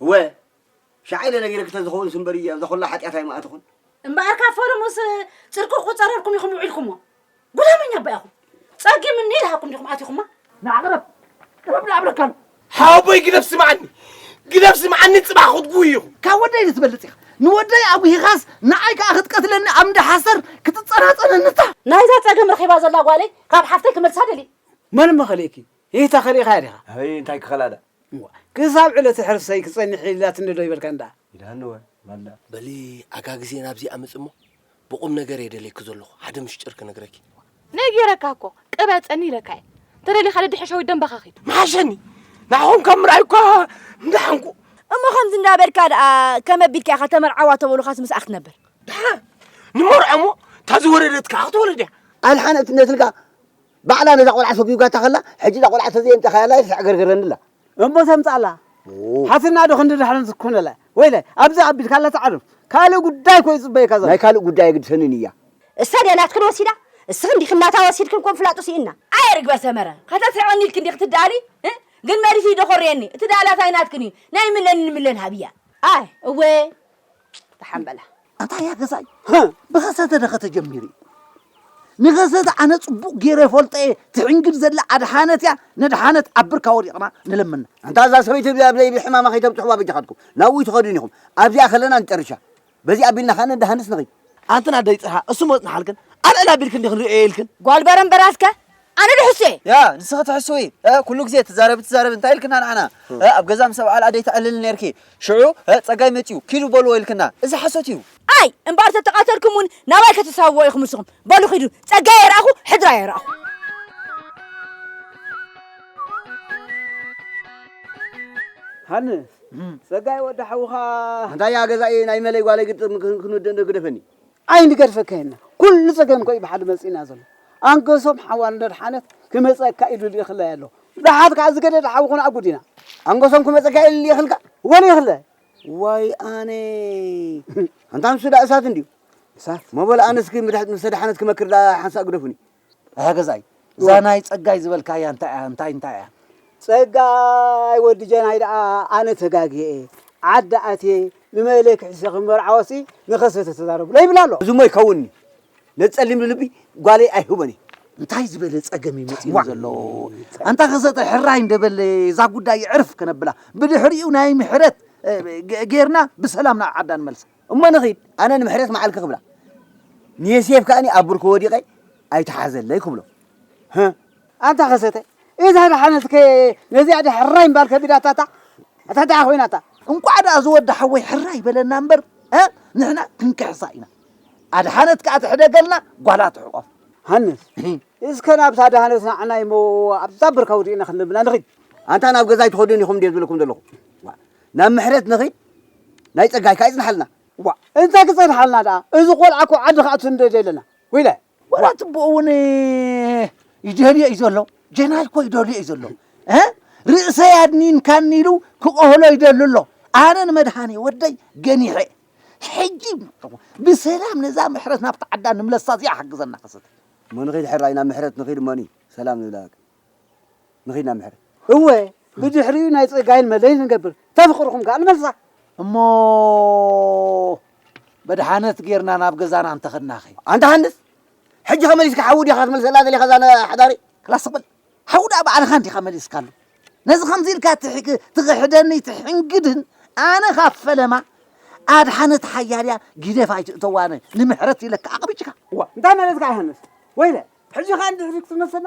እወ ሻዕ ኢለ ነጊረኪ ተዝኸውን ስምበሪ እያ እዛ ኩላ ሓጢኣት ኣይምኣትኹን። እምበኣር ካብ ፈለሙስ ጽድቂ ክቁጸረልኩም ኢኹም ውዒልኩሞ። ጉላመኛ እባ ኢኹም። ጸጊም እኒ ኢልሃኩም ዲኹም ኣቲኹማ? ንዓ ቅረብ ቅረብ ንዓ እብለካሉ። ሓወቦይ ግደፍ ስምዓኒ ግደፍ ስምዓኒ ጽባሕ ክትጉይ ኢኹ። ካብ ወደይ ንትበልጽ ኢኻ ንወደይ ኣጉሂኻስ ንዓይ ከኣ ክትቀትለኒ ኣብ እንዳ ሓሰር ክትጸናጸነኒ እታ። ናይዛ ጸገም ረኺባ ዘላ ጓለይ ካብ ሓፍተይ ክመልሳ ደልየ። መን መኸለኪ ሂህታ ከሊእኻያ ዲኻ? ኣይ እንታይ ክኸላ'ዳ። እዋ ክሳብ ዕለተ ሕርሰይ ክጸንሕ ኢላትኒ'ዶ ይበልካ እንዳ። ኢላኒ'ወ ማልዳ። በሊ ኣጋ ግዜ ናብዚ ኣምጽእ'ሞ ብቑምነገር'የ ደልየኪ ዘሎኹ ሓደ ምሽጢር ክነግረኪ። ነጊረካ እኮ ቅበጸኒ ኢለካ'የ ተደሊኻ ነዲ ሕሻዊት ደም በኻኺት። ምሓሸኒ ንዓኹም ካብ ምርኣይ'ኳ ምደሓንኩ። እሞ ከምዚ እንዳበልካ ደኣ ከመይ ኣቢልካ ኢኻ ተመርዓዋ ተበሉኻስ ምስኣ ክትነብር። ደሓን ንመርዖ'ሞ እታ ዝወለደት ከኣ ክትወልድ'ያ። ኣድሓነት ነትልካ። ባዕላ ነዛ ቆልዓ ሰጉጋታ ከላ ሕጂ እዛ ቆልዓ ተዘይ ኣምጻኻያ ላይፍ ተዕገርግረኒ ኣላ። እሞ ተምጻላ ሓትንና ዶ ክንዲ ድሕረን ዝኮነላ ወይለ ኣብዚ ኣቢልካ ኣላ ትዓርፍ ካልእ ጉዳይ እኮ ይጽበየካ ዘሎ። ናይ ካልእ ጉዳይ ኣይግድሰንን እያ። እሳ ድያ ናትክን ወሲዳ እስኽን ዲክን ናታ ወሲድክን ኮም ፍላጡ ሲኢንና። ኣየ ርግበ ሰመረ ከተስሕቐኒ ኢልኪ እንዲኺ ትደኣሊ ግን መሪሱ ይደኾርየኒ እቲ ደኣላታ ኣይናትክን እዩ ናይ ምለን ንምለን ሃብያ። ኣይ እወ ደሓን በላ ኣታ እያ ገዛይ ብኸሰተ ደኸ ተጀሚሩ እዩ ንኸሰተ ኣነ ፅቡቕ ገይረ ፈልጠ እየ ትሕንግድ ዘላ ኣድሓነት እያ ነድሓነት ኣብ ብርካ ወዲቕና ንለምና እንታ እዛ ሰበይቲ እዚኣ ኣብ ለይቢ ሕማማ ከይተብፅሕዋ በጃኻትኩም ናብኡ ትኸዱን ኢኹም ኣብዚኣ ከለና ንጨርሻ በዚኣ ኣቢልና ከዓ ነድሃንስ ንኽይ ኣንትና ደይ ፅርሃ እሱ መፅንሓልክን ኣልዕላ ኣቢልክን ዲኽን ርእየ ኢልክን ጓል በረምበራትከ ኣነ ዶ ሕሱ እየ? ያ ንስኺ ትሕስዊ እ ኩሉ ግዜ ትዛረቢ ትዛረቢ እንታይ ኢልክና ንዓና እ ኣብ ገዛ ምስ ኣብዓል ኣደይ ተዕልሊ ኔርኪ ሽዑ እ ጸጋይ መጺኡ ኪዱ በልዎ ኢልክና እዚ ሓሶት እዩ። ኣይ እምበኣር ተተቃተልኩም ውን ናባይ ከተሳብዎ ኢኹም ንስኹም በሉ ኪዱ ጸጋይ ኣይረኣኹ ሕድሪ ኣይረኣኹ። ሃንስ ጸጋይ ወዲ ሓውኻ። ኣንታይ እያ ገዛኢ ናይ መለይ ጓለይ ግጥም ክንውድእ እንዶ ግደፈኒ። ኣይንገድፈካ ኢልና ኩሉ ጸገም ኮዩ ብሓደ መጺእና ዘሎ ኣንገሶም ሓዋል ነድሓነት ክመጸካ ኢሉ ልኢኽላ ኣሎ ብሓት ከኣ ዝገደደ ሓዊ ኮነ ኣጉድ ኢና ኣንገሶም ክመጸካ ኢሉ ልኢኽልካ ወን ይኽለ ዋይ ኣነ ኣንታ ንሱ ዳ እሳት እንድዩ እሳት መበል ኣነስኪ ምድሕት ምስተደሓነት ክመክር ዳ ሓንሳእ ግደፉኒ ኣያ ገዛይ እዛ ናይ ጸጋይ ዝበልካያ እንታይ እያ እንታይ እንታይ እያ ጸጋይ ወዲ ጀናይ ደኣ ኣነ ተጋግየ እየ ዓዲ ኣትየ ንመለ ክሕሸ ክመርዓወሲ ንኸሰተ ተዛረብሎ ይብል ኣሎ እዚ እሞ ይከውንኒ ነቲ ጸሊም ልልቢ ጓለይ ኣይህቦን እየ እንታይ ዝበለ ጸገም እዩ መጺኡ ዘሎ ኣንታ ከሰተ ሕራይ እንደበለ እዛ ጉዳይ ዕርፍ ከነብላ ብድሕሪኡ ናይ ምሕረት እ፣ ገ- ጌርና ብሰላም ናብ ዓዳ ንመልሳ እሞ ንኺድ ኣነ ንምሕረት መዓልኪ ክብላ ንየሴፍ ከኣኒ ኣብ ብርኩ ወዲቐ ኣይትሓዘለይ ክብሎ ህ ኣንታ ከሰተ እዛ ደሓነት ከ ነዚኣ ደ ሕራይ እምባል ከቢዳታታ እታ ደኣ ኮይናታ እንቋዕ ደኣ ዝወዲ ሓወይ ሕራይ በለና እምበር ንሕና ክንክሕሳ ኢና ኣድሓነት ከኣ ትሕደገልና ጓላ ትሕቆፍ ሃንስ እስከ ናብታ ደሃነት ናዕናይ እሞ ኣብዛ ብርካ ወዲእና ክንልምና ንኺድ ኣንታ ናብ ገዛይ ትኸዱን ኢኹም እንዴ ዝብለኩም ዘለኹ ናብ ምሕረት ንኺድ ናይ ጸጋይካ ይጽንሓልና። እዋ እንታይ ክጸንሓልና ደኣ እዚ ቆልዓ እኮ ዓዲ ክኣቱ ንደልዮ ኣለና ዊለ። ወላ ትቡኡ እውን ይደልዮ እዩ ዘሎ ጀናል እኮ ይደልዮ እዩ ዘሎ ርእሰይ ኣድኒንካኒ ኢሉ ክቆህሎ ይደሉ ኣሎ ኣነ ንመድሃኔ ወደይ ገኒሐ ሕጂ ብሰላም ነዛ ምሕረት ናብቲ ዓዳ ንምለሳ እዚኣ ሓግዘና ከሰተ እሞ ንኺድ ሕራይ ናብ ምሕረት ንኺድ እሞኒ ሰላም ንብላ ንኺድ ናብ ምሕረት። እወ ብድሕሪኡ ናይ ጸጋይን መለይን ንገብር ተፍቅርኩም ከኣ ንመልሳ። እሞ መድሓነት ጌርና ናብ ገዛና እንተኸድናኸ? ኣንታ ሃንደስ ሕጂ ከ መሊስካ ሓዊ ዲኻ ክትመልሰላ ደሊኻ እዛ ሓዳሪ? ክላ ስቕ በል ሓዊ ደኣ ባዕልኻ እንዲኻ መሊስካሉ ነዚ ከምዚ ኢልካ ትኽሕደኒ ትሕንግድን ኣነ ካብ ፈለማ ኣድሓነት ሓያል እያ ጊደፍ ኣይትእተዋነ ንምሕረት ኢለካ ኣቕብጭካ። እዋ እንታይ ማለትካ ኢኻ ሃንደስ ወይለ ሕጂ ከኣ ንድሕሪት ክትመልሰና?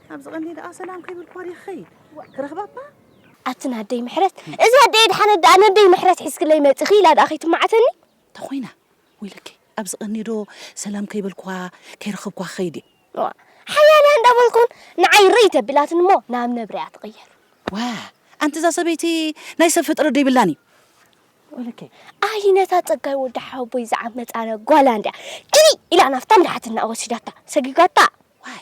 ኣብዚ ቀንዲ ደኣ ሰላም ከይብልኳ ድየ ክኸይድ ክረኽባ እባ። ኣቲ ናደይ ምሕረት እዚ ኣደይ ኣድሓነት ደኣ ነደይ ምሕረት ሒዝክለይ መጺኺ ኢላ ደኣ ከይትማዓተኒ። እንተኾይና ወይለከ ኣብዚ ቀንዲ ዶ ሰላም ከይበልኳ ከይረኸብኳ ክኸይድ እየ። እዋእ ሓያለ እንዳበልኩን ንዓይ ርይ ተቢላትኒ እሞ ናብ መብርያ ትቕየር። ዋእ ኣንቲ እዛ ሰበይቲ ናይ ሰብ ፍጥረት ዶ ይብላን እዩ። ወይለከ። ኣይ ነታ ጸጋይ ወዲ ሓወቦይ ዝዓመጻ ጓላ እንድያ ግልይ ኢላ ናፍታ ምራሕትና ወሲዳታ ሰጊጓታ። ዋይ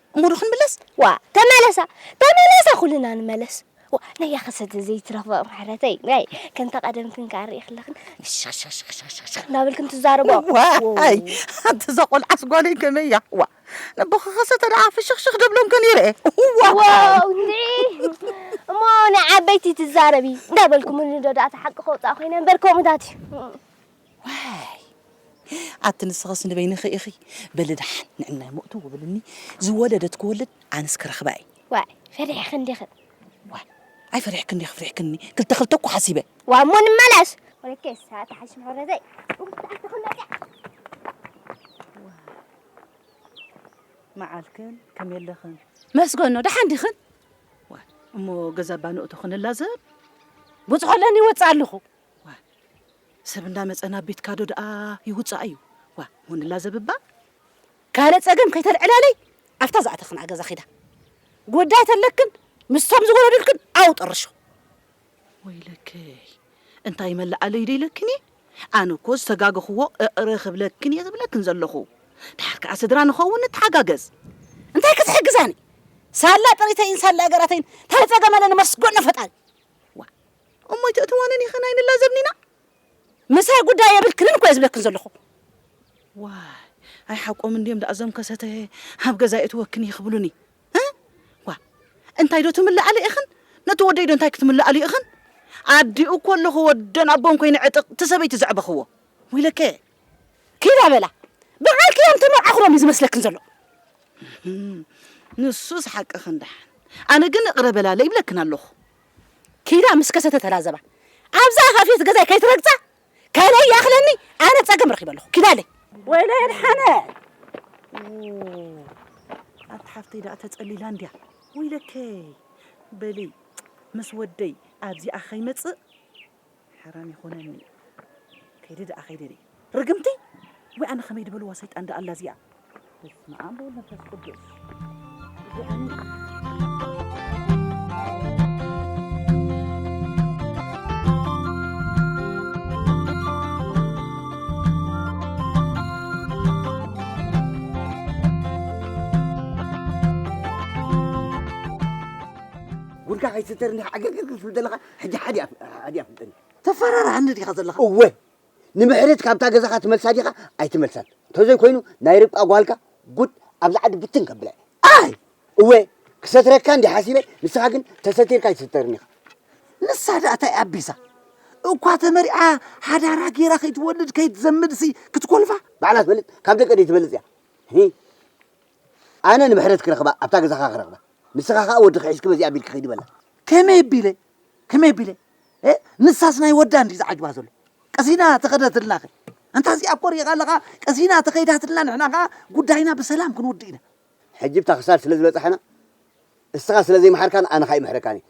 እሞ ዶ ክንምለስ ዋእ ተመለሳ ተመለሳ ኩልና ንመለስ ዋእ ነያ ከሰተ ዘይትረኽበ ምሕረተይ ናይ ከምታ ቀደምክን ከኣ ርኢ ክለኽን ሽኽሽኽሽኽሽኽ እናበልክን ትዛረቦ ዋይ ኣንተ እዛ ቆልዓስ ጓለይ ከመይ እያ ዋ ነቦኻ ከሰተ ደኣ ፍሽኽሽኽ ደብሎም ከን ይርኤ ዋው እሞ ናይ ዓበይቲ ትዛረቢ እንዳበልኩ ምንዶ ደኣ ተሓቂ ከውፃእ ኮይነ እምበር ከምኡታት እዩ ዋይ ኣቲ ንስኸስ ንበይንኺ ኢኺ በሊ ደሓን ንዕናይ ሞእቱ ውብልኒ ዝወለደት ክወልድ ኣንስ ክረኽባ እየ ዋይ ፈሪሕኺ እንዲኺ ዋይ ኣይፈሪሕኪ እንዲኺ ፍሪሕክኒ ክልተ ክልተ እኮ ሓሲበ ዋይ እሞ ንመለስ ወለከይ ሰዓት ሓሽ ምሕረዘይ መዓልክን ከመይ ኣለኽን መስገኖ ደሓን ዲኽን እሞ ገዛ ባንእቶ ክንላዘብ ብፅሖ ኣለኒ ይወፅእ ኣለኹ ዋእ ሰብ እንዳመጸ ናብ ቤትካ ዶ ደኣ ይውጻእ እዩ ዋእ ሆንላ ዘብባ። ካልእ ጸገም ከይተልዕላለይ ኣብታ ዝኣተክንኣ ገዛ ኪዳ ጉዳይ ተለክን ምስቶም ዝወለዱልክን ኣው ጥርሹ። ወይለከይ እንታይ መለኣለይ ዶ ኢለክን እየ ኣነ እኮ ዝተጋገኽዎ እቕረ ክብለክን እየ ዝብለክን ዘለኹ ድሓር ከኣ ስድራ ንኸውን ንተሓጋገዝ እንታይ ክትሕግዛኒ ሳላ ጥሪተይን ሳላ ገራተይን እንታይ ጸገም ኣለኒ መስጎኖ ፈጣሪ እሞ ኣይተእትዋንን ኢኽን ኣይንላዘብን ኢና። ምሳይ ጉዳይ የብልክንን እኮ እየ ዝብለክን ዘለኹ። ዋይ ኣይ ሓቆም እንድዮም ደኣ እዞም ከሰተ ኣብ ገዛ የእትወክን እየ ክብሉኒ እ ዋ እንታይ ዶ ትምልዓለ ኢኽን ነቲ ወደይ ዶ እንታይ ክትምልኣሉ ኢኽን ኣዲኡ እኮ ኣለኹ ወደን ኣቦን ኮይነ ዕጥቕ እቲ ሰበይቲ ዘዕበኽዎ ወይለከ ኪዳ በላ ብዓልኪ እዮም ተመርዓኹሎም እዩ ዝመስለክን ዘሎ ንሱስ ሓቅኽን ደሓን ኣነ ግን እቕረ በላለ ይብለክን ኣለኹ ኪዳ ምስ ከሰተ ተላዘባ ኣብዛ ኣፋፌት ገዛይ ከይትረግጻ ከለይ ይኣኽለኒ ኣነ ጸገም ረኺበ ኣለኹ ኪዳለይ ወይለይ ኣድሓነ ኣንቲ ሓፍተይ ደኣ ተጸሊላ እንድያ ወይለከይ በሊ ምስ ወደይ ኣብዚኣ ከይመጽእ ሓራም ይኹነኒ ከይደ ደኣ ከይደ ደይ ርግምቲ ወይ ኣነ ከመይ ድበልዋ ሰይጣን ደኣ ኣላ እዚኣ በስመ ኣብ ወወልድ መንፈስ ቅዱስ ጉድካ ከይትዝርንሕ ዓገግግ ክትብል ዘለካ ሕጂ ሓዲ ኣይፍልጥን እየ ተፈራርሃኒ ዲኻ ዘለኻ እወ ንምሕረት ካብታ ገዛኻ ትመልሳ ዲኻ ኣይትመልሳን ተዘይ ኮይኑ ናይ ርብቃ ጓልካ ጉድ ኣብዚ ዓዲ ብትን ከብላ ኣይ እወ ክሰትረካ እንዲ ሓሲበ ንስኻ ግን ተሰቲርካ ኣይትስተርን ኢኻ ንሳ ደኣ እንታይ ኣቢሳ እኳ ተመሪዓ ሓዳራ ጌራ ከይትወልድ ከይትዘምድሲ ክትኮልፋ ባዕላ ትበልፅ ካብ ደቂ ደይ ትበልፅ እያ ኣነ ንምሕረት ክረኽባ ኣብታ ገዛኻ ክረኽባ ንስኻ ከኣ ወድኺ ሒዝኪ በዚኣ ኣቢልኪ ኺዲ በላ። ከመይ ኣቢለ ከመይ ኣቢለ እ ንሳስ ናይ ወዳ እንድዩ ዝዓጅባ ዘሎ ቀሲና ተኸደትልናኺ ኣንታ እዚኣ እኮ ርኢኻ ኣለኻ ቀሲና ተኸይዳትልና ንሕና ከኣ ጉዳይና ብሰላም ክንውድእ ኢና። ሕጂ ብታ ክሳድ ስለ ዝበጻሕና እስኻ ስለ ዘይመሓርካን ኣነ ከኣ ኣይምሕረካን እየ።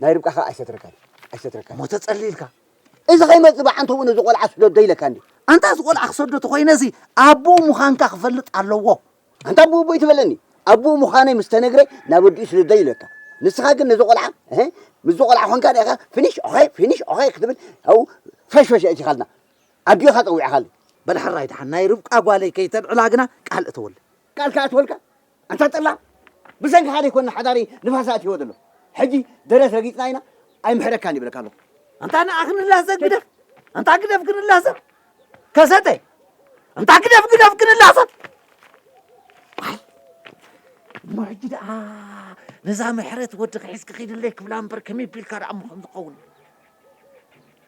ናይ ርብቃ ከኣ ኣይሰትረካን ኣይሰትረካን እሞ ተጸሊ ኢልካ እዚ ከይመጽእ ብዓንተቡ ነዚ ቆልዓ ስደዶ ኢለካ እንዲ ኣንታ እዚ ቆልዓ ክሰዶ ተኮይነ እዚ ኣቡኡ ምዃንካ ክፈልጥ ኣለዎ ኣንታ ኣቡኡ ቦይ ትበለኒ ኣቡኡ ምዃነይ ምስ ተነግረ ናብ ኣዲኡ ስደዶ ኢለካ ንስኻ ግን ነዚ ቆልዓ እህ ምስዚ ቆልዓ ኾንካ ዲኻ ፊኒሽ ኦኸይ ፊኒሽ ኦኸይ ክትብል ኣው ፈሽፈሽ ኣእቲኻልና ኣዲኡ ኢኻ ጸዊዕኻሉ በል ሕራይ ደሓን ናይ ርብቃ ጓለይ ከይተልዕላ ግና ቃል እተወለይ ቃል ክኣትወልካ ኣንታ ጠላም ብሰንክኻ ዘይኮና ሓዳረይ ንፋስ ኣእቲዎ ዘሎ ሕጂ ደረት ረጊጽና ኢና ኣይምሕረካን ይብለካ ኣሎ ኣንታ ንኣ ክንላዘብ ግደፍ ኣንታ ግደፍ ክንላዘብ ከሰተ ኣንታ ግደፍ ግደፍ ክንላዘብ እሞ ሕጂ ደኣ ነዛ ምሕረት ወዲ ክሒዝኪ ኺድለይ ክብላ እምበር ከመይ ቢልካ ደኣ ምኸም ዝኸውን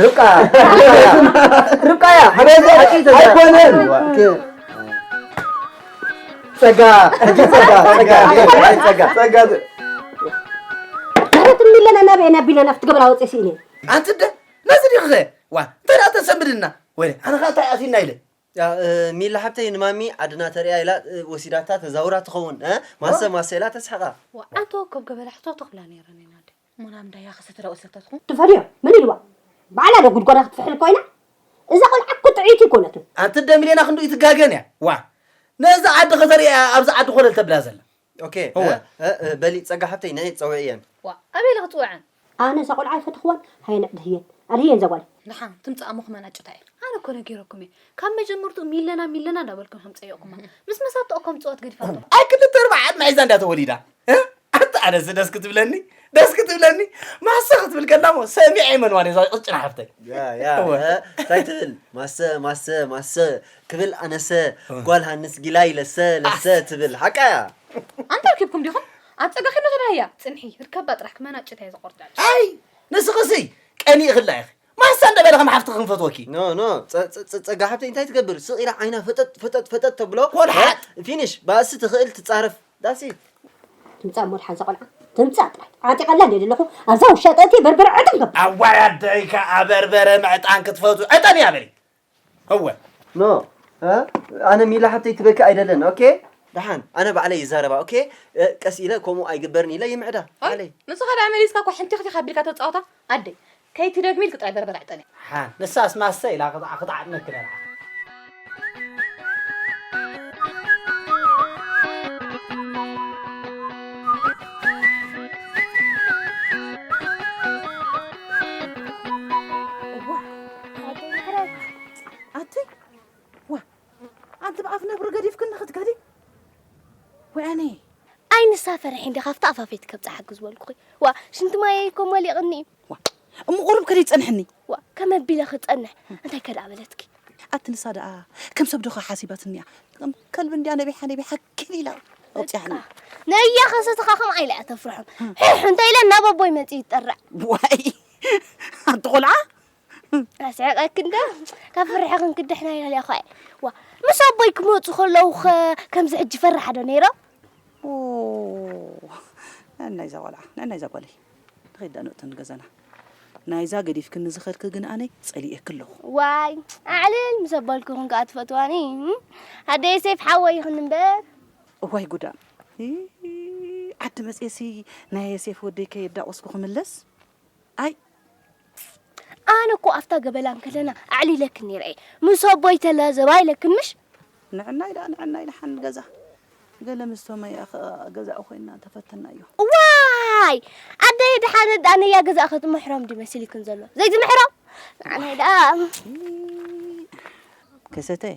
ርብቃ ርብቃ እያ ኣይኮነን ጸጋ ሕጂ ጸጋ ጸጋ ጸጋ ጸጋ ማለት እሚለና ናበየና ቢለና ክትገብራ ወፅእ ስኢነ ኣንቲ ደ ነዚ ዲኸ ዋ እንታይ ደኣ ተሰምድና ወይ ኣነ ከዓ እንታይ ኣሲና ኢለ ሚላ ሓብተይ ንማሚ ዓድና ተሪያ ኢላ ወሲዳታ ተዛውራ ትኸውን ማሰ ማሰ ኢላ ተስሕቃ ኣቶ ወከብ ገበላ ሕቶ ተኽብላ ነይረ ነናደ ሙናም ዳያ ክሰተ ዳኡ ሰተትኹ። ትፈድዮ መን ኢልዋ ባዕላ ዶ ጉድጓዳ ክትፍሕል ኮይና እዛ ቆልዓ እኮ ጥዕይቲ ኣይኮነትን። ኣቲ ደሚሌና ክንዱ እይትጋገን እያ ዋእ ነዚ ዓዲ ከተርእያ እያ ኣብዚ ዓዲ ኮለል ተብላ ዘላ ኦኬ እወ በሊ ጸጋ ሓብተይ ንዒ ጸውዕየን። ዋእ ኣበይ ኢለ ክጽውዐን። ኣነ እዛ ቆልዓ ኣይፈተኽዋን ሃየ ንዕ ድህየን ኣድህየን እዛ ጓለይ። ድሓን ትምጻእ ኣሞ ክመናጭታ እየ። ኣነ እኮ ነጊረኩም እየ ካብ መጀመርትኡ ሚለና ሚለና እንዳበልኩም ከም ጸይቕኩማ ምስ መሳተኦ ከም ጸወት ገዲፋቶ። ኣይ ክልተ ኣርባዓ ዕድመ ሒዛ እንድያ ተወሊዳ ኣታ ኣነስ ደስ ክትብለኒ ደስ ክትብለኒ ማሰ ክትብል ከላሞ ሰሚዐ ይመንዋን እዛ ቅጭና ሓፍተይ እንታይ ትብል ማሰ ማሰ ማሰ ክብል ኣነሰ ጓል ሃንስ ጊላይ ለሰ ለሰ ትብል ሓቃ እያ ኣንታ ርኪብኩም ዲኹም ኣብ ፀጋኺ መኸዳ እያ ፅንሒ ርከባ ጥራሕ ክመናጭት እየ ዝቆርጫጭ ኣይ ንስኽሲ ቀኒእኽላ ኢኺ ማህሳ እንደ በለ ከም ሓፍቲ ክንፈትወኪ ኖ ኖ ፀጋ ሓብተይ እንታይ ትገብር ስቕ ኢላ ዓይና ፈጠጥ ፈጠጥ ፈጠጥ ተብሎ ወልሓጥ ፊኒሽ ባእሲ ትኽእል ትፃረፍ ዳሲ ትምፃእ ሞድ ሓንሳ ቆልዓ ትምፃእ ጥራይ ዓጢቐላ እንደ ዘለኹ ኣብዛ ውሻጠ እቲ በርበረ ዕጥን ገብ ኣዋይ ኣደይካ ኣበርበረ ምዕጣን ክትፈቱ ዕጠን እያ በሊ እወ ኖ ኣነ ሚላ ሓብተይ ትበኪ ኣይደለን ኦኬ ደሓን ኣነ ባዕለይ ይዛረባ ኦኬ ቀስ ኢለ ከምኡ ኣይግበርን ኢለ ይምዕዳ ባዕለይ ንስኻ ደኣ መሊስካ እኳ ሕንቲ ኽቲኽ ኣቢልካ ተጻውታ ኣደይ ከይትደግሚ ኢልኪ ጥራይ በርበረ ዕጠኒ ሓ ንሳስ ማሰ ኢላ ክትዓጥነኪ ነይራ ኣተይ ዋ ኣንቲ ብኣፍ ነብሪ ገዲፍክን ንኽትከዲ ወያኔ ኣይንሳ ፈርሒ እንዲ ካብቲ ኣፋፌት ከብፅሓ ግዝበልኩኺ ዋ ሽንቲ ማየ እኮ መሊቕኒ እዩ ዋ እሞ ቁሩብ ከደ ይፀንሕኒ ዋ ከም ኣቢለ ክፀንሕ እንታይ ከደኣ በለትኪ ኣቲ ንሳ ደኣ ከም ሰብ ዶኻ ሓሲባትኒ እያ ከም ከልቢ እንዲያ ነቢሓ ነቢሓ ክብ ኢላ ኣውፅያኒ ነያ ከሰትኻ ከም ዓይላ እያ ተፍርሖም ሕሕ እንታይ ኢለ ናብ ኣቦይ መፅእ ይጠርዕ ዋይ ኣቲ ቆልዓ ኣስዕቐኪ እንዶ ካብ ፍርሒ ክንክድሕና ኢና ሊኣኹ ኣየ ዋ ምስ ኣቦይ ክመፁ ከለዉ ኸ ከምዚ ሕጂ ፈራሕ ዶ ነይሮም ነናይ እዛ ቆልዓ ነናይ እዛ ጓለይ ንኸይድ ዳንኦቲ ንገዛና ናይዛ ገዲፍክኒ ዝኸድኪ ግን ኣነ ጸሊኤኪ ኣለኹ ዋይ ኣዕልል ምስ ኣባልኩ ኹን ከዓ ትፈትዋኒ ኣደይ ሴፍ ሓወይ ይኹን እምበር እዋይ ጉዳ ዓዲ መፅኤሲ ናይ ሴፍ ወደይ ከየዳቆስኩ ክምለስ ኣይ ኣነ እኮ ኣብታ ገበላ እንከለና ኣዕሊለክን ነይረ እየ ምስ ኣቦይ ተላዘባ ኢለክን ምሽ ንዕናይ ደኣ ንዕናይ ደሓን ገዛ ገለ ምስ ቶመያ ከኣ ገዛኡ ኮይና ተፈተናዮ ዋይ ኣደይ ደሓነ ደኣ ነያ ገዛእ ከትምሕሮም ድዩ መሲልክን ዘሎ ዘይትምሕሮም ንዓናይ ደኣ ከሰተይ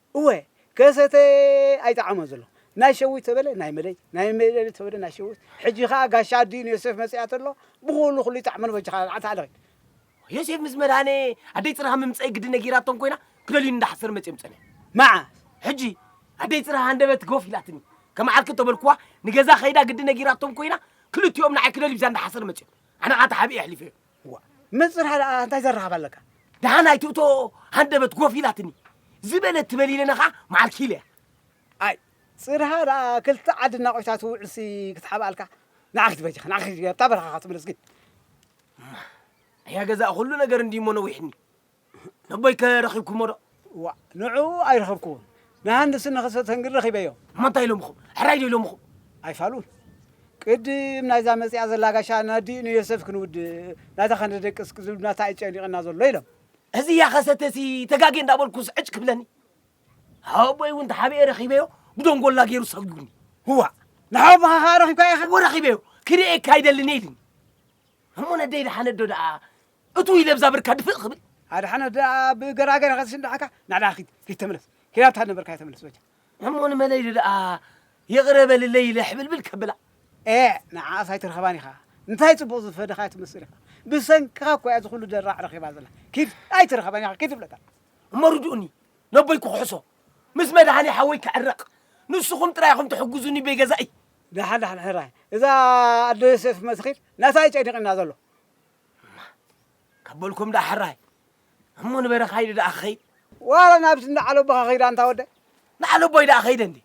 እወ ከሰተ ኣይጠዓሞን ዘሎ ናይ ሸዊት ተበለ ናይ መደይ ናይ መደይ ተበለ ናይ ሸዊት ሕጂ ከኣ ጋሽ ኣዲኡ ንዮሴፍ መጺኣ ተሎ ብኹሉ ኩሉ ይጠዕመሉ በጃኻ ኣታ ኣለኺ ዮሴፍ ምስ መድሃኔ ኣደይ ጽርሃ ምምጸይ ግዲ ነጊራቶም ኮይና ክደልዩኒ እንዳሓሰሩ መጺኦም ጸንሑ መዓስ ሕጂ ኣደይ ጽርሃ ሃንደበት ጎፍ ኢላትኒ ከም ዓርኪ ተበልኩዋ ንገዛ ከይዳ ግዲ ነጊራቶም ኮይና ክልቲኦም ንዓይ ክደልዩ ብዛ እንዳሓሰሩ መጺኦም ኣነ ከኣ ተሓቢኤ ኣሕሊፈዮም መጽርሃ ደኣ እንታይ ዘራኽብ ኣለካ ደሓን ኣይትእቶ ሃንደበት ጎፍ ኢላትኒ ዝበለት ትበል ኢለና ከዓ መዓል ኪኢለ እያ ኣይ ጽርሃ ደኣ ክልተ ዓዲ እናቆይታ ትውዕልሲ ክትሓብኣልካ ንዓ ክትበጅኻ ንዓ ክትበጅኻ ኣብታ በረኻኻ ትምለስ ግን እያ ገዛእ ኩሉ ነገር እንዲሞ ነዊሕኒ ነቦይከ ረኺብኩሞ ዶ? እዋእ ንዕኡ ኣይረኸብኩዎን፣ ንሃንስን ንኸሰተን ግን ረኺበዮም። እሞ እንታይ ኢሎምኹም? ሕራይ ዶ ኢሎምኹም? ኣይፋሉን። ቅድም ናይዛ መጺኣ ዘላ ጋሻ ናዲ ንዮሰፍ ክንውድእ ናታ ከነደቅስ ክዝብ ናታ እዩ ጨኒቕና ዘሎ ኢሎም። እዚያ ከሰተሲ ተጋጌ እንዳበልኩስ ዕጭ ክብለኒ። ኣቦይ እውን ተሓቢኤ ረኺበዮ ብደንጎላ ገይሩ ሰጒጉኒ። እዋእ ንሓወቦኻ ኸኣ ረኺብካዮ ኢኻ? እወ ረኺበዮ፣ ክርእየካ ይደልኒ ኢሉኒ። እሞ ነደይ ደሓነዶ ደኣ እቱ ኢለ ብዛ ብርካ ድፍእ ክብል ኣድሓነት ደኣ ብገራገር ኢኻ ዝሽንዳሓካ ናዕዳ ኪድ ኪድ ተመለስ ኪራታ ነበርካዮ ተመለስ በጃ ሕሞ ንመለይ ኢለ ደኣ ይቕረ በልለይ ኢለ ሕብልብል ከብላ ኤእ ንዓኣስ ኣይትረኽባን ኢኻ እንታይ ጽቡቕ ዝፈደኻዮ ትመስል ኢኻ ብሰንክኻ እኮ እያ ዝኹሉ ደራዕ ረኺባ ዘላ ኪድ ኣይትረኽባን ኢኻ ኪድ ይብለካ እሞ ርድኡኒ ነቦይ ክኩሕሶ ምስ መድሃኒ ሓወይ ክዕረቕ ንስኹም ጥራይ ኢኹም ትሕግዙኒ በይገዛእይ ዳሓን ዳሓን ሕራይ እዛ ኣደ ዮሴፍ መስኺል ናታ እዩ ጨኒቕና ዘሎ እማ ካብ በልኩም ደኣ ሕራይ እሞ ንበረኻ ኢሉ ደኣ ክኸይድ ዋላ ናብቲ እንዳ ዓለቦኻ ከይድ ኣንታ ወደይ ንዓለቦይ ደኣ ከይደ እንዴ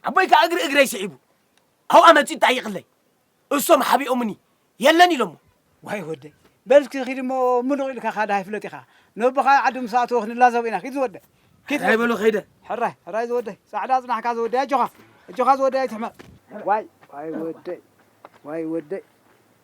ኣቦይ ከዓ እግሪ እግረይ ስዒቡ ኣብኣ መፂኡ ጠይቅለይ እሶም ሓቢኦምኒ የለን ኢሎሞ ዋይ ወደይ በል እስኪ ኪድ እሞ ምሉቕ ኢልካ ካዳ ኣይፍለጥ ኢኻ ነቦኻ ዓዲ ምስ ኣተወ ክንላዘብ ኢና ኪድ ዝወደይ ኪድ ሕራይ በሎ ከይደ ሕራይ ሕራይ ዝወደይ ፃዕዳ ፅናሕካ ዝወደይ ኣጆኻ ኣጆኻ ዝወደይ ኣይትሕመቕ ዋይ ዋይ ወደይ ዋይ ወደይ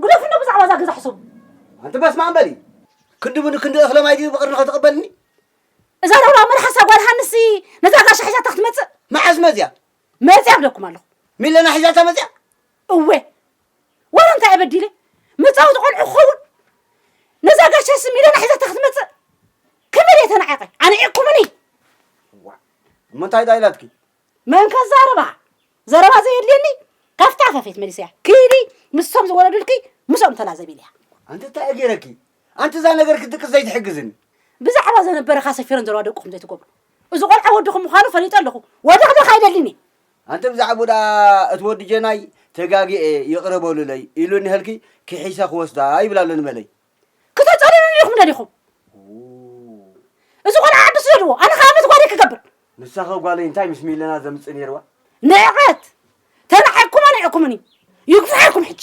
ግደፉኒ ብዛዕባ እዛ ገዛ ሕሰቡ። ኣንቲ በስማም በሊ ክንድቡ ንክንዲ እኽለ ማይ ድዩ ብቕርኒ ከትቕበልኒ? እዛ ረብራብ መልሓሳ ጓል ሃንሲ ነዛ ጋሻ ሒዛታ ክትመጽእ መዓስ መጽያ መጽያ ብለኩም ኣለኹ። ሚለና ሒዛታ መጽያ እወ ዋላ እንታይ ኣበዲለ መጻወቲ ቆልዑ ክኸውን ነዛ ጋሻ ስም ኢለና ሒዛታ ክትመጽእ ከመይ ደየ ተናዒቐ ኣንዒቕኩምኒ እሞ እንታይ ዳይላትኪ መን ከዛርባ ዘረባ ዘየድልየኒ ካፍታ ፈፊት መሊሰያ ኪዲ ምስቶም ዝወረዱልኪ ምስኦም ተላዘቢ ኢለያ። ኣንቲ ታይ ገይረኪ ኣንቲ እዛ ነገር ክድቅስ ዘይትሕግዝኒ። ብዛዕባ ዘነበረካ ሰፊረን ዘለዋ ደቁ ከምዘይ ትገብሩ እዚ ቆልዓ ወድኹም ምዃኑ ፈሊጠ ኣለኹ ወደኽደኽ ኣይደልን እየ። ኣንቲ ብዛዕብኡ ደኣ እቲ ወዲ ጀናይ ተጋጊየ ይቕረ በሉለይ ኢሉኒ ሀልኪ ኪሒሰ ክወስዳ ይብል ኣሎ ንበለይ። ክተጸልሉኒ ኢኹም ደሊኹም እዚ ቆልዓ ዓዲ ስደድዎ ኣነ ከ ኣመት ጓለይ ክገብር ንሳኸ ጓለይ እንታይ ምስ ሚለና ዘምፅእ ነይርዋ ንዕቀት ተናዒቕኩሞ ንዕኩምኒ ይግፍሓልኩም ሕጂ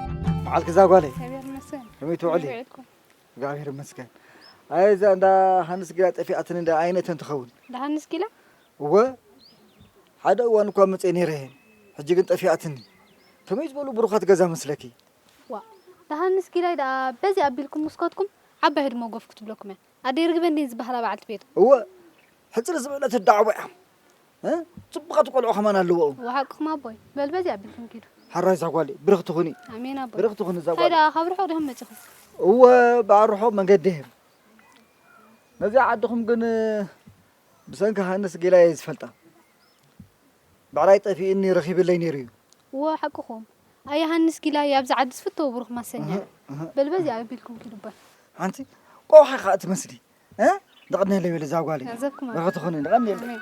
በዓል ክዛ ጓለይ ከመይ ትውዕሊ? እግዚኣብሔር ይመስገን። ኣይ እዛ እንዳ ሃንስ ጊላ ጠፊኣትን እንዳ ኣይነተን ትኸውን እንዳ ሃንስ ጊላ እወ ሓደ እዋን እኳ መፀ ነይረ እየን ሕጂ ግን ጠፊኣትኒ። ከመይ ዝበሉ ብሩኻት ገዛ መስለኪ? ዋ እንዳ ሃንስ ጊላይ ደኣ በዚ ኣቢልኩም ምስኮትኩም ዓባይ ህድሞ ጎፍ ክትብለኩም እያ። ኣደይ ርግበ እንድየን ዝበሃላ በዓልቲ ቤቱ። እወ ሕጽር ዝበለት ኣደ ዓቦ እያ። ጽቡቓት ቆልዑ ከማን ኣለውኡ። እወ ሓቅኹም ኣቦይ። በል በዚ ኣቢልኩም ኪዱ። ሕራይ ዛጓለይ ብርኽቲ ኩኒ። ኣሜን ኣቦይ። ብርኽቲ ኩኒ ዛጓለይ። ታይ ደኣ ካብ ርሑቕ ዲኹም መጺኹም? እወ በዓል ርሑቕ መንገዲ እየ። ነዚኣ ዓድኹም ግን ብሰንኪ ሃንስ ጌላ እየ ዝፈልጣ። ብዕራይ ጠፊኡኒ ረኺብለይ ነይሩ እዩ። እወ ሓቅኹም ኣይ የሃንስ ጊላይ ኣብዚ ዓዲ ዝፍተው ብሩኽ ማሰኛ እዩ በል በዚኣ ኣቢልኩም ኪዱ እባ። ኣንቲ ቆውሒ ኢኻ እትመስሊ ደቕኔለይ በሊ እዛ ጓለይ ገንዘብኩም ርሑት ትኹኒ ደቐኔለይ ኣሜን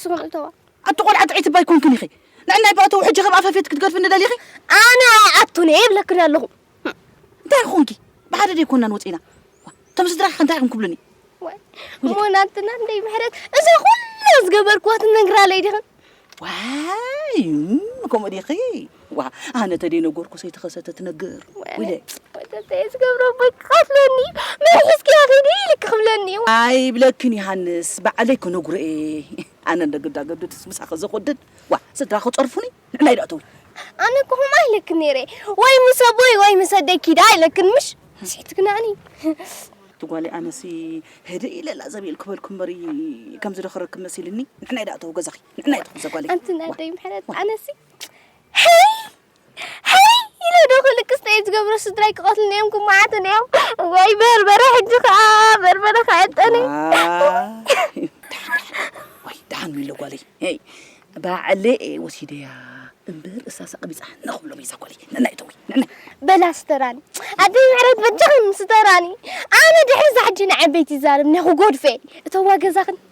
ስኹም እተዋ ኣቲ ቆልዓ ጥዒት እባ ኣይኮንክን ኢኺ ንዕናይ ብኣተው ሕጂ ከም ኣፈፌት ክትገድፍኒ ደሊኺ ኣነ ኣይኣቱን እየ ይብለክን ኣለኹ እንታይ ኮንኪ ብሓደ ደይኮናን ወፂእና እቶም ስድራኺ ከ እንታይ ኢኹም ክብሉኒ ሞናትና እንደይ ምሕረት እዛ ኩላ ዝገበርክዋ ትነግራለይ ዲኽን ዋይ ከምኡ ዲኺ ዋእ ኣነ ተደይ ነገርኩ ሰይተኸሰተ ትነግር ወይለ ወተተይ ዝገብሮ ቦይ ክኸፍለኒ መን ሒዝክያ ኺዲ ኢልክ ክብለኒ ኣይብለክን ዮሃንስ በዓለይ ክነግሮ እየ ኣነ እንደግዳ ገድድስ ምሳ ከዘኮድድ ዋ ስድራ ክፀርፉኒ ንዕናይ ዶ ኣተዊ ኣነ እኮ ከምኡ ኣይለክን ነይረ ወይ ምስ ኣቦይ ወይ ምስ ኣደይ ኪዳ ኣይለክን ምሽ ስሒት ግናዕኒ ትጓሊ ኣነሲ ህድእ ኢለ ላዘብ ኢል ክበልኩ እምበር ከምዚ ዶ ክረክብ መሲልኒ ንሕናይ ዳእተው ገዛኺ ንሕናይ ትኹን ዘጓለይ ኣንቲ ናይ ኣደይ ምሕረት ኣነሲ ሕይ ሕይ ኢለ ዶ ክልቅስ እንታይ እዩ ዝገብሮ ስድራይ ክቐትሉኒ እዮም ክመዓቱኒ እዮም ወይ በርበረ ሕጂ ከዓ በርበረ ከዐጠኒ ወይ ደሓን ሚሎ ጓለይ ይ ባዕለ እየ ወሲደያ እምበር እሳሳ ቀቢፃ ንኽብሎም እየ ዛጓለይ ንና ይተዊ በላ ስተራኒ ኣደይ ምሕረት በጃኽን ስተራኒ ኣነ ድሕሪ ዛሕጂ ንዓበይቲ ይዛረብ እኒኹ ጎድፈ እተዋ ገዛኽን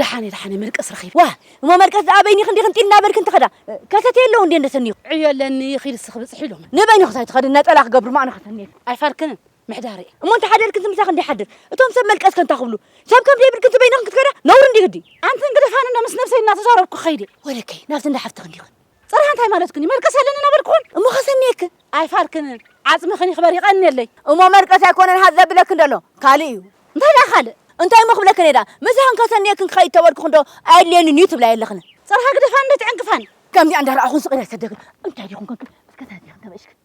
ደሓነ ደሓነ መልቀስ ረኺብ ዋ እሞ መልቀስ ደኣ በይኒ ክንዲ ክንጢ እናበልክ እንትኸዳ ከሰተ የለዉ እንዴ እንደሰኒኹ ዕዮ ኣለኒ ኺድ ስኽ ብፅሒ ኢሎም ንበይኒ ክሳይ ትኸዲ ነፀላ ክገብሩ ማእነ ከሰኒ ኣይፋልክንን ምሕዳር'የ እሞ እንተ ሓደር ክንሲ ምሳኺ እንዲ ሓድር እቶም ሰብ መልቀስ ከንታ ክብሉ ሰብ ከም ደይብል ክንሲ በይንኺ ክትከዳ ነውሪ እንዲ ግዲ ኣንቲ እንግዲ ኻን እንዶ ምስ ነብሰይ እናተዛረብኩ ክኸይድ እየ ወደከይ ናብቲ እንዳ ሓፍትኺ እንዲ ኽን ጽርሃ እንታይ ማለትክን እዩ መልቀስ ኣለኒ እናበልክኹን እሞ ከሰንየክን ኣይፋልክንን ዓጽምኽን ይኽበር ይቐንየለይ እሞ መልቀስ ኣይኮነን ሃት ዘብለክን ደሎ ካልእ እዩ እንታይ ደኣ ካልእ እንታይ እሞ ክብለክን እየ ደኣ ምሳኽን ከሰንየክን ክኸይድ ተበልክኹን ዶ ኣየድልየንን እዩ ትብላ የለኽን ጽርሃ ግደፋኒ ዶ ትዕንቅፋኒ ከምዚኣ እንዳ ረኣኹን ስቕ ኢለ ዝሰደክን እንታይ ዲኹን ከንክን እስከ ተረዲኽን ተበእሽክን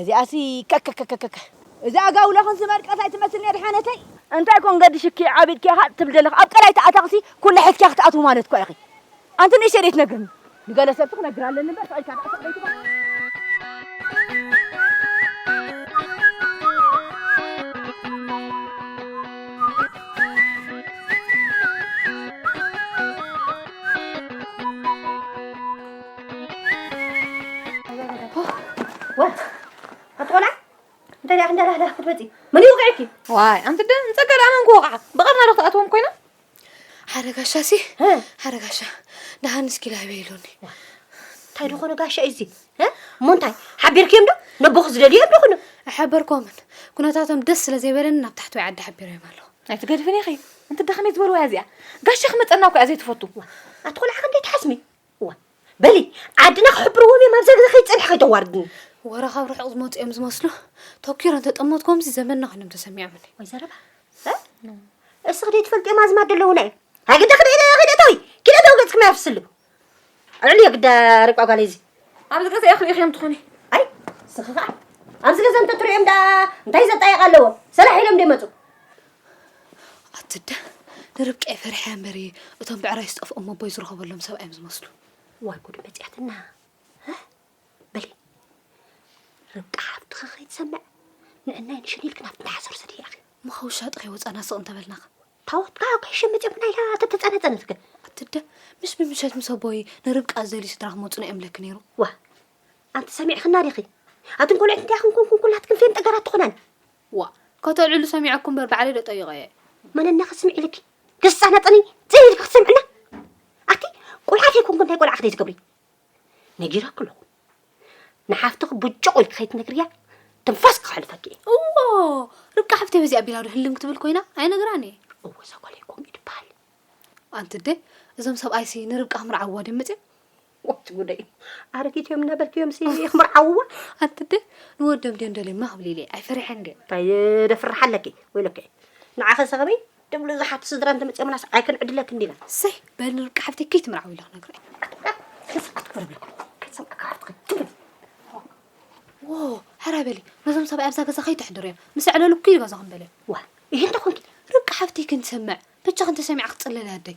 እዚኣሲ ከከከከከ እዛ ኣጋውሎ ክንሲ መርቀት ኣይትመስልን እያ ድሓነተይ። እንታይ ኮን ገድሽኪ ዓቢ ኢድኪ ኢኻ ትብሊ ዘለኺ ኣብ ቀላይ ተኣታኽሲ ኩሉ ሕዝኪያ ክትኣትዊ ማለት እኳ ኢኺ ኣንቲ ንእሽተይ ደይትነግርኒ ንገለ ሰብሲ ክነግር ኣለኒ እምበር ስቕ ኢልካ ደኣ ስቕ ደይትበል። ዋይ ኣንቲ ደ ንፀጋ ደኣ መን ክወቕዓ ብቐርና ዶ ክትኣትዎም ኮይና ሓረጋሻ ሲ ሓረጋሻ ደሃን እስኪ ላይበ ኢሉኒ እንታይ ደኾነ ጋሻ እዩ እዚ እሞ እንታይ ሓቢርክዮም ዶ ነቦኹ ዝደልዮ ዶ ኩኑ ኣሓበርኮምን ኩነታቶም ደስ ስለ ዘይበለኒ ናብ ታሕተዋይ ዓዲ ሓቢረዮም ኣለኹ ኣይትገድፍን ኢኺ እንተ ደኸመይ ዝበልዋ እዚኣ ጋሻ ክመፀና እኮ እያ ዘይትፈቱ ኣቲ ቆልዓ ክንደይ ትሓስሚ እዋ በሊ ዓድና ክሕብርዎም እዮም ኣብዛ ገዛ ከይትፀንሒ ከይተዋርድኒ ወረ ካብ ርሑቕ ዝመፁ እዮም ዝመስሉ ተኪሮ እንተጠመትኮምሲ ዘመንና ኮይኖም ተሰሚዖምኒ ወይ ዘረባ እስኺ ደይ ትፈልጥዮም ኣዝማድ ደለውና እዩ ኣግዳ ክደእተዊ ክደእተዊ ገፅክማ ያፍስሉ ኣልዕሉ የግዳ ርቋ ጓለይ እዚ ኣብዚ ገዛ እያ ክሪኢኽዮም ትኾኒ ኣይ እስኺ ከዓ ኣብዚ ገዛ እንተትሪኦም ደኣ እንታይ ዘጣየቕ ኣለዎ ሰላሕ ኢሎም ደይመፁ ኣትደ ንርብቃ ፈሪሐያ እምበር እየ እቶም ብዕራይ ዝጠፍኦም ኣቦይ ዝረኸበሎም ሰብ እዮም ዝመስሉ ዋይ ጉድ መፅያትና በሊ ርብቃ ሓፍትኻ ከይትሰምዕ ንዕናይ ንሽን ኢልክና ብተሓሰር ሰድ ኢኺ ምኸውሻ ጥኸይ ወፃና ስቕ እንተበልናኸ ታወትካ ከይሽም መፅምና ኢኻ ተተፀነፀነት ግን ኣትደ ምስ ብምሸት ምስ ኣቦይ ንርብቃ ዝደልዩ ስድራ ክመፁና እዮም ለክ ነይሩ ዋ ኣንቲ ሰሚዕኽና ዲኺ ኣትን ቆልዑት እንታይ ክንኩንኩን ኩላትክን ፌን ጠገራት ትኾናን ዋእ ከተልዕሉ ሰሚዐኩ እምበር ባዕለይ ዶ ጠይቐ እየ። መነና ክትስምዒ ኢልኪ ክትሳናጠኒ ጽን ኢልኪ ክትሰምዕና ኣቲ ቆልዓ ከይኮንኩ እንታይ ቆልዓ ክትገብሪ ነጊረኩ ኣለኹ ንሓፍትኺ ብጭቑ ኢልኪ ከይትነግርያ ትንፋስኪ ክሕልፈኪ እየ እዎ ርብቃ ሓፍተይ በዚ ኣቢላ ዶ ህልም ክትብል ኮይና ኣይነግራን እየ እዎ ሰኮለይ ኮምኡ ድበሃል ኣንቲ እደ እዞም ሰብኣይሲ ንርብቃ ክምርዓዋ ድዮም መፅኦም ዋት ጉደይ ኣረጊት እዮም ነበርክ እዮም ክምርዓውዋ ኣንቲ ደ ንወዶም ድዮም ደልዮማ ክብል ኢለ ኣይፈርሐን ድየ እንታይ ደፍርሕ ኣለኪ ወይለከ ንዓኸ ሰኸበይ ድብሉ ዝሓት ስድራ እንተመፅኦምናስ ኣይክንዕድለክ እንዲና ሰይ በል ርብቃ ሓፍቲ ከይትምርዓው ኢለ ክነግረ ሕራ በሊ ነዞም ሰብኣይ ኣብዛ ገዛ ከይተሕድሩ እዮም ምስ ዕለሉ ኩሉ ገዛ ክንበለ ዋ ይህን ተኾንኪ ርብቃ ሓፍቲ ክንትሰምዕ ብቻ ክንተሰሚዕ ክትፅለል ኣደይ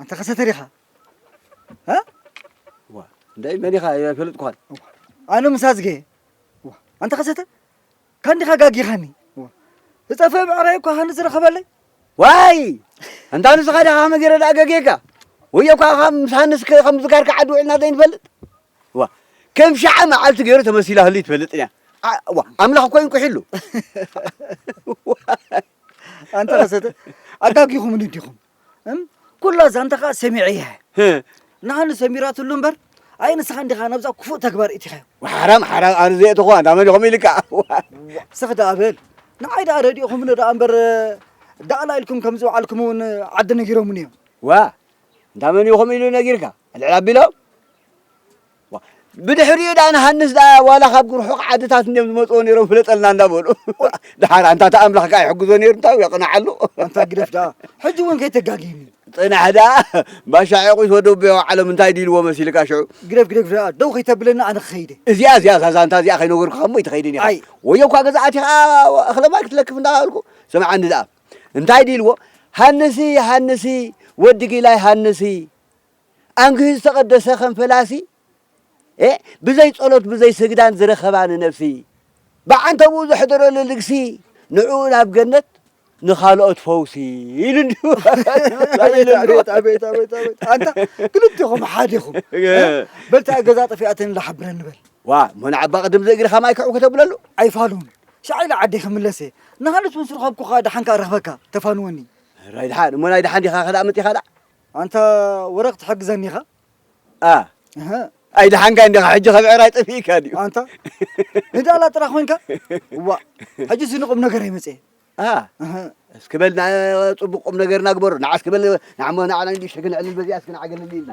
ኣንታ ከሰተር ኢኻ እንታይ መን ኢኻ ኣይፈልጥኩኻን ኣነ ምስ ኣዝገ ኣንታ ከሰተ ካንዲኻ ጋጊኻኒ ዝጠፈ ብዕራይ እኳ ሃኒ ዝረኸበለይ ዋይ እንታ ንስኻ ድኻ ከመ ገይረ ድኣ ገጌካ ወዮ እኳ ካብ ምስ ሃንስ ከም ዝጋርካ ዓዲ ውዒልና ዘይንፈልጥ ዋ ከም ሸዓ መዓልቲ ገይሩ ተመሲላ ህሉ ትፈልጥ እያ ዋ ኣምላኽ እኮ ይንቁሒሉ ኣንታ ከሰተ ኣጋጊኹምኒ ዲኹም እም ኩላ ዛንታ ከኣ ሰሚዐ እየ ንኣን ሰሚራትሉ እምበር ኣይ ንስኻ እንዲኻ ናብዛ ክፉእ ተግባር እቲኻዮ ሓራም ሓራም ኣነ ዘየእተኹ ኣንዳ መን ኢኹም ኢልካ ስኽ ደኣ በል ንዓይ ደኣ ረዲእኹምኒ ደኣ እምበር ዳእላ ኢልኩም ከም ዝውዓልኩም እውን ዓዲ ነጊሮምኒ እዮም ዋ እንዳ መን ኢኹም ኢሉ ነጊርካ ልዕል ኣቢሎም ብድሕሪኡ ደኣ ንሃንስ ደኣ ዋላ ካብ ርሑቕ ዓድታት እንድዮም ዝመጽዎ ነይሮም ፍለጠልና እንዳበሉ ደሓር ኣንታ እቲ ኣምላኽ ከኣ ይሕግዞ ነይሩ እንታይ ውን የቕንዓሉ ኣንታ ግደፍ ደኣ ሕጂ ውን ከይተጋግየኒ ጽናሕ ደኣ ባሻ ዒቑሽ ወዲ ኣቦይ ኣውዓሎም እንታይ ድዩ ኢልዎ መሲልካ ሽዑ ግደፍ ግደፍ ደኣ ደው ከይተብለና ኣነ ክኸይደ እዚኣ እዚኣ እዛ ዛንታ እዚኣ ከይነገርኩኻ እሞ ኣይትኸይድን ኢኻ ኣይ። ወዮ እኳ ገዛ ኣቲኻ እኽለ ማይ ክትለክፍ እንዳበልኩ ስምዓኒ ደኣ እንታይ ድዩ ኢልዎ ሃንሲ ሃንሲ ወዲ ጊላይ ሃንሲ ኣንግህ ዝተቐደሰ ከም ፈላሲ ኤእ ብዘይ ጸሎት ብዘይ ስግዳን ዝረኸባ ንነብሲ ብዓንተብኡ ዘሕደረሉ ልግሲ ንዕኡ ናብ ገነት ንኻልኦት ፈውሲ ኢሉ እንዲሁ ኣንታ ክልቲኹም ሓደ ኢኹም በልታ ገዛ ጠፊኣተን ኢላ ሓብረኒ በል ዋ እሞ ንዓባ ቅድም ዘእግርኻ ማይ ክዕው ከተብለሉ ኣይፋሉን ሻዕ ኢለ ዓደይ ክምለሰ ንሃንስ ምስ ረኸብኩኻ ደሓን ከኣ ረኽበካ ተፋንወኒ ራይ ደሓን እሞ ናይ ደሓን ዲኻ ከዳእ መጢኻ ደኣ ኣንታ ወረ ክትሕግዘኒ ኢኻ a ኣይደሓንካይ እንዲኻ ሕጂ ካብ ዕራይ ጠፊእካ ድዩ ኣንታ ንዳላ ጥራ ኮንካ ዋእ ሕጂ እዚ ንቁም ነገር ኣይመፅኤ እስኪ በል ፅቡቅ ቁም ነገር ናግበሩ ንዓ እስኪ በል ንዓሞ ንዓና እንዲሽተ ክንዕልል በዚኣ እስኪ ንዓ ገለል ኢልና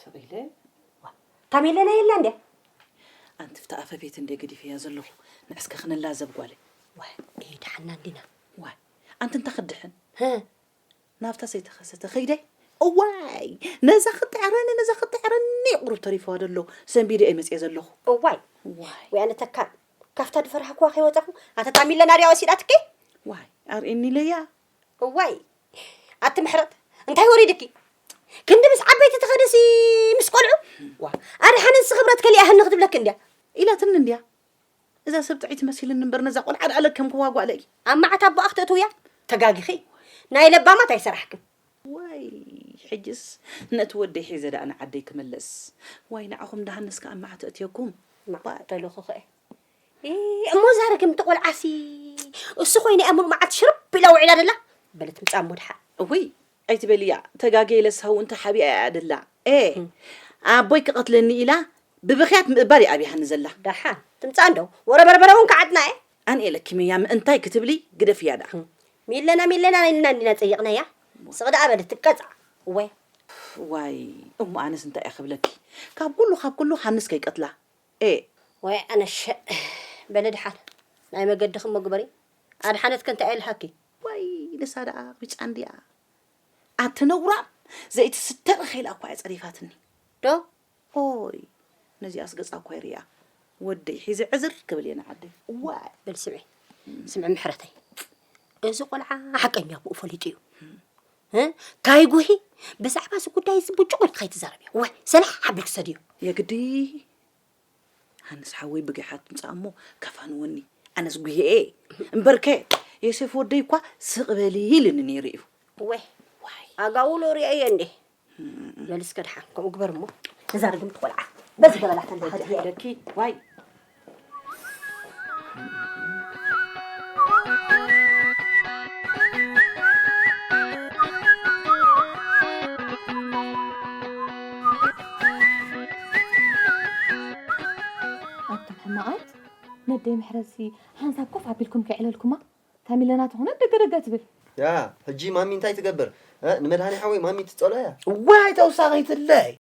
ስቕ ኢለ ዋ እታ ሜለና የላ እንድያ ኣንቲ ብታ ኣፈቤት እንደ ገዲፈያ ዘለኹ ንዕስከ ክንላዘብ ጓለ ዋ ኤ ድሓና እንዲና ዋ ኣንቲ እንታ ክድሕን ናብታ ሰይተኸሰተ ከይደይ እዋይ ነዛ ክጥዕረኒ ነዛ ክጥዕረኒ ቁሩብ ተሪፈዋ ደሎ ሰንቢደ እየ መፅየ ዘለኹ እዋይ ወይ ኣነ ተካል ካብታ ድፈራህኩዋ ከይወፃኹ ኣተጣሚለና ድያ ወሲዳትኪ ዋይ ኣርእኒ ለያ እዋይ ኣቲ ምሕረት እንታይ ወሪድኪ ክንዲ ምስ ዓበይቲ ትኸደሲ ምስ ቆልዑ ዋ ኣድሓ ንስ ክብረት ከሊኣህኒ ክትብለኪ እንድያ ኢላትኒ እንድያ እዛ ሰብ ጥዒት መሲልኒ እምበር ነዛ ቆልዓ ደኣ ለከምክዋ ጓለይ ኣብ መዓት ኣቦኣ ክትእትውያ ተጋጊኺ ናይ ለባማት ኣይሰራሕክን ዋይ ሕጅስ ነቲ ወደይ ሒዘ ደኣ ንዓደይ ክምለስ ዋይ ንዓኹም ደሃንስ ከኣ መዓት እእትየኩም ማዕበልኹ ኸእ እሞ እዛ ርግምቲ ቆልዓሲ እሱ ኮይነ እያ ሙሉእ መዓልቲ ሽርብ ኢላ ውዒላ ደላ በለት ምጻም ወድሓ እውይ ኣይትበልያ ተጋገየ ለስሃው እንተ ሓቢኣ እያ ደላ ኤ ኣቦይ ክቐትለኒ ኢላ ብብኽያት ምእባር እያ ኣብያሃኒ ዘላ ዳሓን ትምጻእ እንዶ ወረ በርበረ እውን ከዓጥና እየ ኣንኤ ለኪመያ ምእንታይ ክትብሊ ግደፍያ ደኣ ሚለና ሚለና ኢልና እንዲና ጸይቕናያ ስቕ ደኣ በለት ትቀጽዓ እወይ ዋይ እሞ ኣነስ እንታይ እየ ክብለኪ ካብ ኩሉ ካብ ኩሉ ሃንስ ከይቀትላ ኤእ። ዋይ ኣነ ሸእ በለ ድሓን ናይ መገድኺ እሞ ግበሪ ኣድሓነት ከ እንታይ የልሃኪ። ዋይ ንሳ ደኣ ቢጫ እንድያ ኣቲ ነውራም ዘይቲ ስተ እኺ ኢላ እኳ እያ ጸሪፋትኒ። ዶ። ኦይ ነዚኣስ ገጻ እኳ ይርኣ ወደይ ሒዘ ዕዝር ክብል እየ ንዓደይ ዋይ። በሊ ስምዒ ስምዒ ምሕረተይ እዚ ቆልዓ ሓቀኛ ኣቡኡ ፈሊጡ እዩ። ታይ ጉሂ ብዛዕባ እዚ ጉዳይ እዚ ብጭቁ ኢልካ ይትዛረብ እዮ ወይ ሰላሕ ዓቢል ክሰድ እዮ የግዲ ሃንስ ሓወይ ብጊሓ ትምፃእ እሞ ከፋንወኒ ኣነስ ጉሄኤ እምበርከ የሴፍ ወደይ እኳ ስቕ በሊ ኢልኒ ነይሩ እዩ ወይ ኣጋውሎ ሪኦ እየ እንዴ መልስ ከድሓ ከምኡ ግበር እሞ እዛ ርግምቲ ቆልዓ በዚ ገበላታ ደኪ ዋይ ነደይ ምሕረሲ ሓንሳብ ኮፍ ኣቢልኩም ከይዕለልኩማ ካሚለና ተኾነት ደገደገ ትብል ያ ሕጂ ማሚ እንታይ ትገብር ንመድሃኒ ሓወይ ማሚ ትፀሎ እያ እዋይ ተውሳኺትለይ